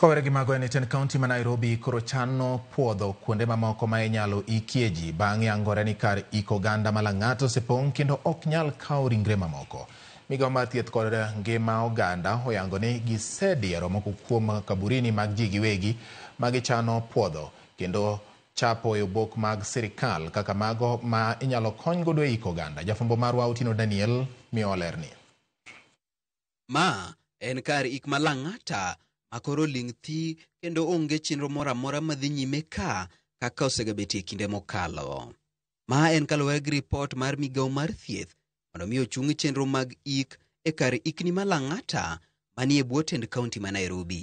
Kowere gi mago en jatend kaunti ma Nairobi koro chano puodho kuonde mamoko ma inyalo ikie ji bang' yangore ni kar iko oganda ma Lang'ata osepong' kendo ok nyal kawo ringre mamoko. Migawo mar thieth kod ngima oganda oyango ni gisediero moko kuom kaburini mag ji giwegi ma gichano puodho kendo chapo e obok mag sirkal kaka mago ma inyalo kony godo e iko oganda. Jafwambo marwa Otino Daniel miyowa lerni. Ma en kar ik ma lang'ata ma koro ling' thi kendo onge chenro moro amora madhi nyime ka kaka osegabetie kinde mokalo. Ma en kaluwore gi ripot mar migawo mar thieth mondo mi ochung chenro mag ik e kar ikni ma Lang'ata manie bwo tend kaunti ma Nairobi.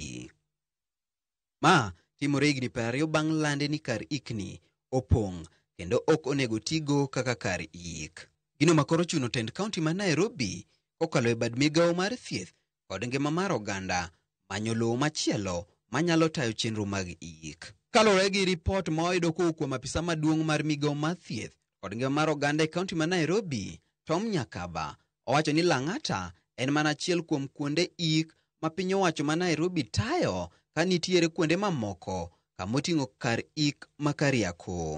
Ma timore higni piero ariyo bang' lande ni kar ikni opong' kendo ok onego tigo kaka kar yik. Gino ma koro chuno tend kaunti ma Nairobi kokalo e bad migawo mar thieth kod ngima mar oganda manyo lowo machielo manyalo tayo chenro mag yik. Kaluwore gi ripot ma wayudo kowuok kuom apisa maduong' mar migawo mar thieth kod ngima mar oganda e kaunti ma Nairobi, Tom Nyakaba, Owacho ni Lang'ata en mana achiel kuom kuonde ik ma piny owacho ma Nairobi tayo ka nitiere kuonde mamoko kamoting'o kar ik ma Kariakoo.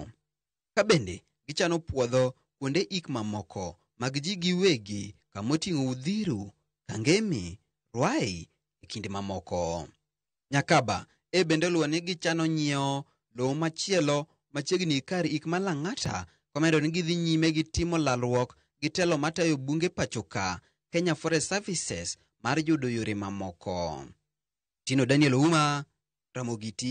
Ka bende gichano puodho kuonde ik mamoko mag ji giwegi kamoting'o Udhiru, Kangemi, Ruai e kind mamoko. Nyakaba, e bende oluwo ni gichano nyiewo lowo machielo machiegni kar ik ma Lang'ata komedo ni gidhi nyime gi timo lalruok gi telo matayo bunge pachoka, Kenya Forest Services mar yudo yore mamoko. Tino Daniel Ouma, Ramogi TV.